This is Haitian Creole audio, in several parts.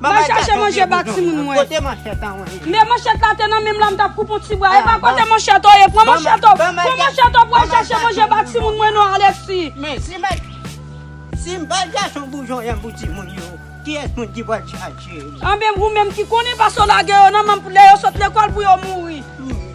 Mwen chache manje ba timoun mwen. Kote manchèt an wè. Men manchèt la te nan menm la m tap koupe yon ti bwa epa kote manchèt ou ye pran manchèt ou pran manchèt ou pou al chache manje ba timoun mwen non Alexis. Men si mwen si m pa gason boujon yan pou timoun yo kiyès moun ki pral chache yo. Anben ou menm ki konnen paske w lage yo nan menm pou lè yo sot lekòl pou yo mouri.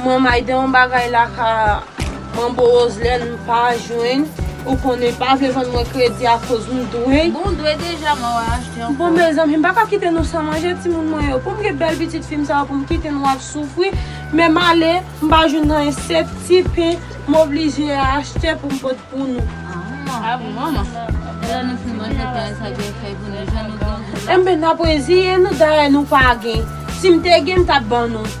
Mwen mayde yon bagay la ka manbo roslèn m pa jwenn ou konnen pa vle vann mwen kredi a koz m dwe. Bon ou dwe deja man wap achte ankò. Bon mezanmi m pa ka kite nou san manje timoun mwen yo poum gen bèl pitit fim sa yo poum kite nou ap soufri men male m pa jwenn anyen sèt ti pen m oblije achte poum pot pou nou. Ah bon manman. Lè nou fin manje pen an sa gen fèy pou nou jan nou gen gou la. Enben nap reziye nou dayè nou pa gen sim te gen m tap ban nou.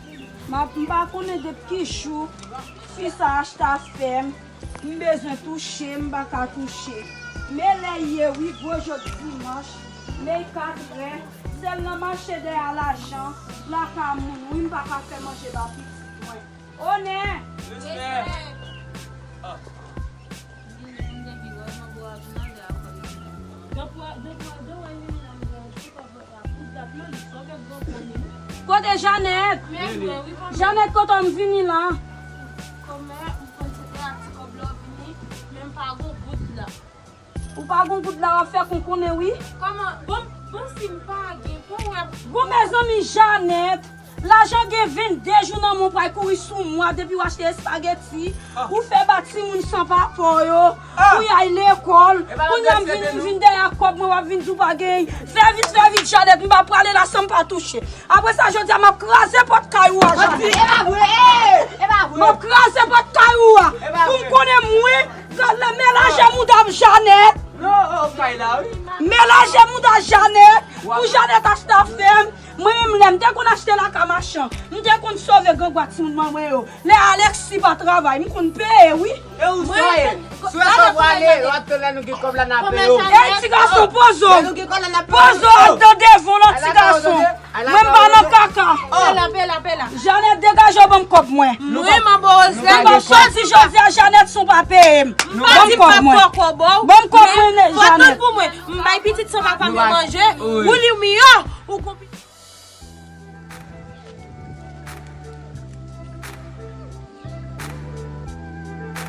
M pa konnen depi ki jou fi sa achta fèm m bezwen touche m pa ka touche me lè ye wi gwo jòt dimanch me 4 rè sèl nan mache dèyè lajan plaka moun wi m pa ka fè manje ba pitit mwen oh nè respè. Kote Janet? Janet kote m vini lan? Ou pa gon goud la wap fè konkonnen wi. Bon mezanmi Janet. Lajan gen 22 jou nan mwen ou pral kouri sou mwen depiw achte espageti ou fè ba timoun san papa w yo pou y al lekòl kounya m vin vin dèyè ak kòb mwen wap vin di w pa gen fè vit fè vit Janet m pa prale la san m pa touche aprè sa jodia map kraze pòt kay ou a Janet map kraze pòt kay ou a pou m konnen mwen men lajan mouda m Janet men lajan mouda Janet pou Janet achte afè m. Mwen menm lèm te konn achte lakay machan, m te konn sove grangwa timoun mwen yo. Lè Alexis pa travay, m konn peye wi. E ou Soyel? Soyel pa pwale yo ap tann lè nou gen kòb la na peye ou. Ey ti gason pozo. Lè nou gen kòb la na peye ou. Pozo ap dan devon lòt ti gason. Mwen m pa nan kaka. Pela pela pela. Janet degaje w banm kòb mwen. Mwen man bo rose la. Ebon sot di jodia Janet son pa peye m. Banm kòb mwen. Banm kòb mwen Janet. Fò tann pou mwen. M bay pitit san papa m yo manje, ou li w miyò, ou gon pitit.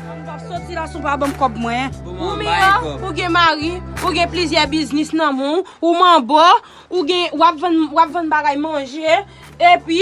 M pap soti la si w pa ban m kòb mwen. Ou miyò, ou gen mari, ou gen plizyè biznis nan men w, ou manbo, ou gen, w ap vann, w ap vann bagay manje, epi.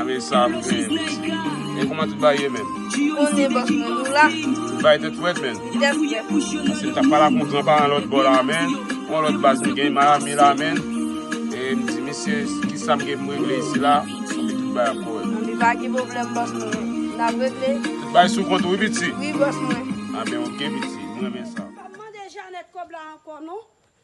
Ame sa m genyen mesi. E kouman tout bagay ye menm. Bon e boss mwen nou la. Tout bagay tet fret menm. Tet fret. Ase m tap pala pou gran paran lot bo la menm. Gon lot baz m genyen Miami la menm. E m di mesye kisam gen pou m regle isi la. Anpi tout bagay ap korek. Anpi pa gen problem boss mwen. Nap regle. Tout bagay sou kont ou wi piti. Wi boss mwen. Anben ok piti. M renmen sa. Pap mande Janet kob la anko non.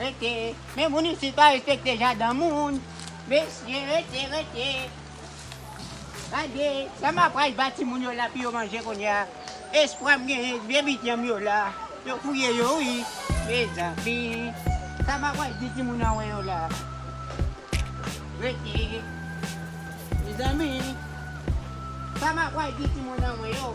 Rete, men moun isit pa respekte jaden moun. Mesye rete, rete. Gade, sa ma pral ba ti moun yo la pou yo manje kounye a. Espwa m genyen se byen bit yanm yo la. Yo fouye yo wi. Mezanmi, sa ma pral di ti moun anwe yo la. Rete. Mezanmi, sa ma pral di ti moun anwe yo.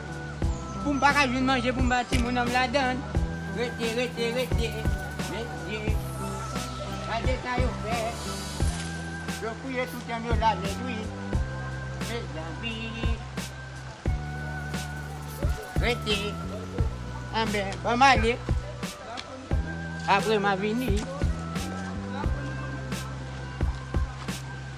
Pou m pa ka jwenn manje pou m ba timoun an m ladann Rete rete rete mesye Gade sa yo fè Yo fouye tout janm yo ladann wi Mezanmi Rete Anbè ban m ale Apre m a vini.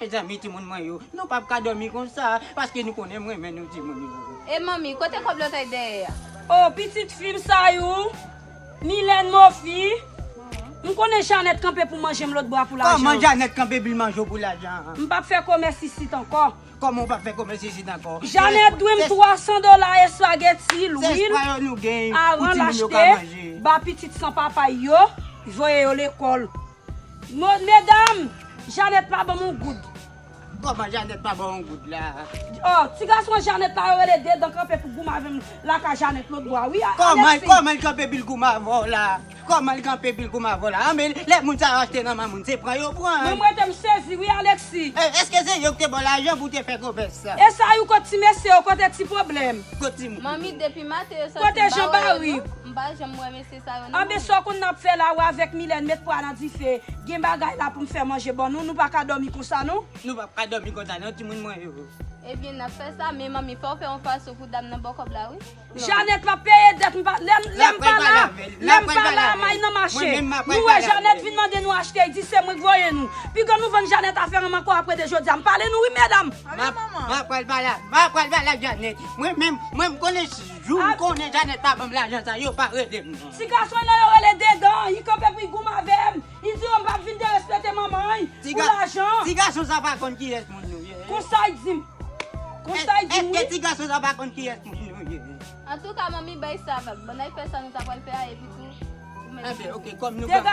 Mezanmi timoun mwen yo nou pap ka domi konsa paske nou konnen m renmen nou timoun yo. E manmi kote kòb lòtèy dèyè a. Oh pitit fim sa you Milène mofi m konnen Janèt kanpe pou manjem lòt bwa pou lajan. Kòman Janèt kanpe bil manjew pou lajan. M pap fè komès isit ankò. Kòman ou pap fè komès isit ankò. Janèt dwe m 300 dola espageti lwil aran lachte ba pitit san papay yo voye yo lekòl. Medam! Janet pa banm yon goud. Koman Janet pa baw yon goud la? Oh ti gason Janet la yo rele de dan kanpe pou goumen avèm la ka Janet lotbo a wi Alexis. Koman li kanpe epil goumen avèw la? Koman li kanpe epil goumen avèw la? Anmey lè moun sa yo achte nan men moun se pran yo pran. Mwen m rete m sezi wi Alexis. Eske se yo ki te baw lajan pou te fè komès sa? Esayou kot ti mesye yo kote ti pwoblèm. Kot ti moun. Manmi depi maten yo santi m pa wè yo non. M pa janm wè mesye sa. Anben sa w konn nap fè la ou avèk Milène met pwa nan dife gen bagay la poum fè manje ban nou nou pa ka dòmi konsa non. Nou pap ka dòmi konsa non timoun mwen yo. Ebyen nap fè sa men manmi fòw fè yon fason pou dam nan baw kòb la wi. Janèt map peye dèt m pa lèm lèm pa la lèm pa la may nan mache nou wè Janèt vin mande nou achte y di se mwen k voye nou piga nou vann Janèt afè ranm ankò aprè de jodia m pale nou wi medam. Map pral pale map pral pale ak Janèt mwen menm mwen m konnen si. Jou m konnen Janet pa banm lajan sa yo pa rele m non. Ti gason nan yo rele dedan i kanpe pou i goum avè m i di yo m pap vin derespekte manman i pou lajan. Ti gason sa pa konn kiyès moun nou ye. Konsa i di m. Konsa i di m wi. Eske ti gason sa pa konn kiyès moun nou ye. Antouka manmi bay sa vag. Bannay fè sa nou ta pral fè a epitou. Enfen ok kòm nou gran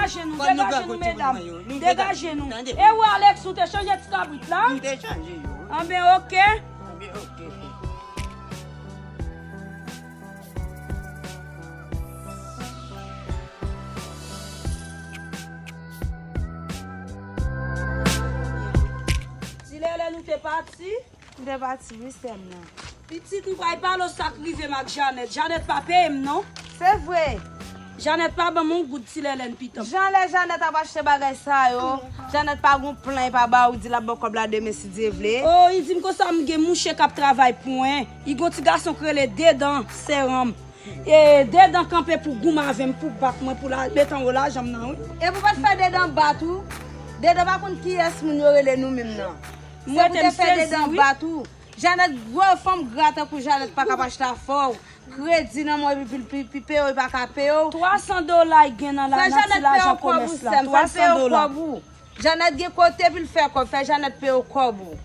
kout ti moun mwen yo nou degaje nou tande. E ou Alex ou te chanje ti kabrit la? M te chanje yo wi. Anben ok. Anben ok. Ti lele nou te pati. M te pati wi sèm nan. Pitit m pray pale w sak rivem ak Janèt, Janèt pa peyem non. Se vre. Janèt pa banm yon goud ti lèlèn pitanm. Jan lè Janèt ap achte bagay sa yo, Janèt pa gen yon plan li pa ba ou, li di lap ba w kòb la demen si Dye vle. Oh li dim konsa m gen mouche kap travay pou mwen, li gen yon ti gason ki rele Dedan seranm. E Dedan kanpe pou goum avèm pou bat mwen pou la met anwo lajan m nan wi. Epi w pat fè Dedan bat ou? Dedan pa konn kiyès moun yo rele nou menm nan. Mwen te fè dedan an bat ou. Janet gwo fanm gra tankou janet pakap achte afew kredi nan mwen epi pul pu pipe yo li paka peye w 300 dola y gen nan la nan ti lajan komes la 300 dola. Janet gen kote pul fè kob fè janet peye w kob ou.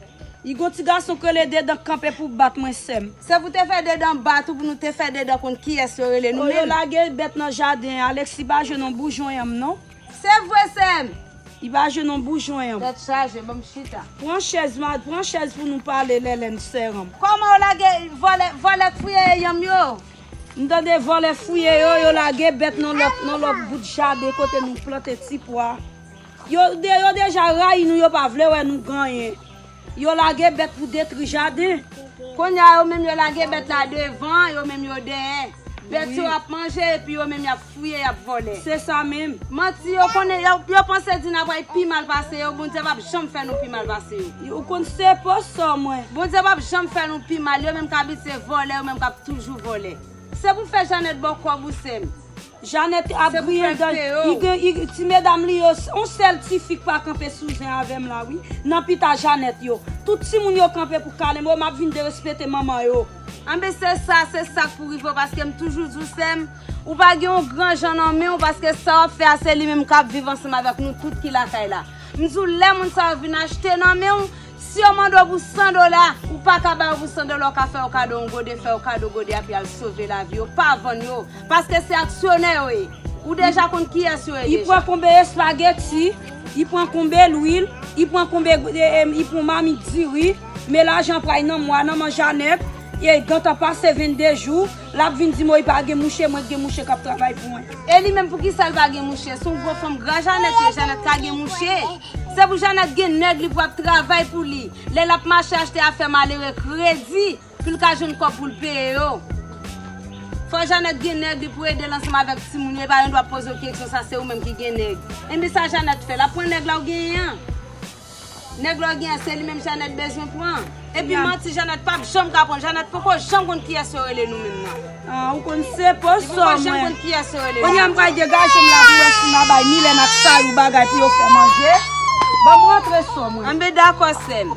Y gon ti gason k rele dedan kanpe pou bat mwen sèm. Se pou te fè dedan an bat ou pou nou te fè dedan konn kiyes yo rele nou menm. Yo lage bèt nan jaden Alexis pa jwenn yon boujon yanm non. Se vre sem. Li pa jwenn yon boujon an. Tet chaje banm chita. Pran chez ma pran chez pou nou pale lelene seum. Koman yo lage vole vole k fouye e yanm yo. M tande vole fouye yo yo lage bet nan lot nan lot bout jaden kote nou plante ti pwa yo yo deja rayi nou yo pa vle we nou ganyen. Yo lage bèt pou detri jaden. Kounye a, yo menm yo lage bèt la devan, yo menm yo dèyè. Bèt yo ap manje epi yo menm y ap fouye, y ap vòlè. Se sa menm. Manti yo konnen, yo panse di n ap ay pi mal pase yo, Bondye p ap janm fè nou pi mal pase yo. Ou konn se po sò mwen. Bondye p ap janm fè nou pi mal, yo menm k abitye vòlè, yo menm k ap toujou vòlè. Se pou fè Janèt ba w kòb ou sè m. Janette ap griyen dan li ti medam li yo on sèl tifi k pa kanpe sou zen avèm la wi nan pita Janette yo tout timoun yo kanpe pou kalem oh map vin derespete manman yo. Anben se sa, se sak pou rivew paske m toujou diw sèm ou pa gen yon gran jan nan menw paske sa wap fè a se li menm kap viv ansanm avèk nou tout ki lakay la m diw lè moun sa yo vin achte nan menw Si yo mande w pou 100 dola, ou pa ka ba yo pou 100 dola ou ka fè yo kado yon gode, fè yo kado gode a pi al sove lavi yo, pa vann yo, paske se aksyonè yo ye, ou deja konn kiyès yo ye deja. Y pran konbe espageti, y pran konbe lwil, y pran konbe gode em, y pran mamit diri, men lajan pray nan mwa nan manjanet, e gentan pase 22 jou. Lap vin di moy pa gen mouche mwen k gen mouche kap travay pou mwen. E li menm poukisa l pa gen mouche son gwo fanm gra janèt ye janèt ka gen mouche se pou janèt gen nèg li pou ap travay pou li lè lap mache achte afè malere kredi pou l ka jwenn kòb pou l peye yo fò janèt gen nèg li pou ede l ansanm avèk timoun yo epa yon dwa poze w keksyon sa se ou menm ki gen nèg enben sa janèt fè lap pran nèg la ou genyen an. Nèg lè w gen an se li menm Janèt bezwen pran. Epi manti Janèt pap janm ka pran. Janèt poko janm konn kiyès yo rele nou menm nan. Ah ou konn se po so mwen. Li poko janm konn kiyès yo rele nou. Kounye a m pral degaje m la pou wè si m a bay Milèn ak Sayou bagay pou yo fè manje. Ban m rantre so mwen. Anben dakò sè m.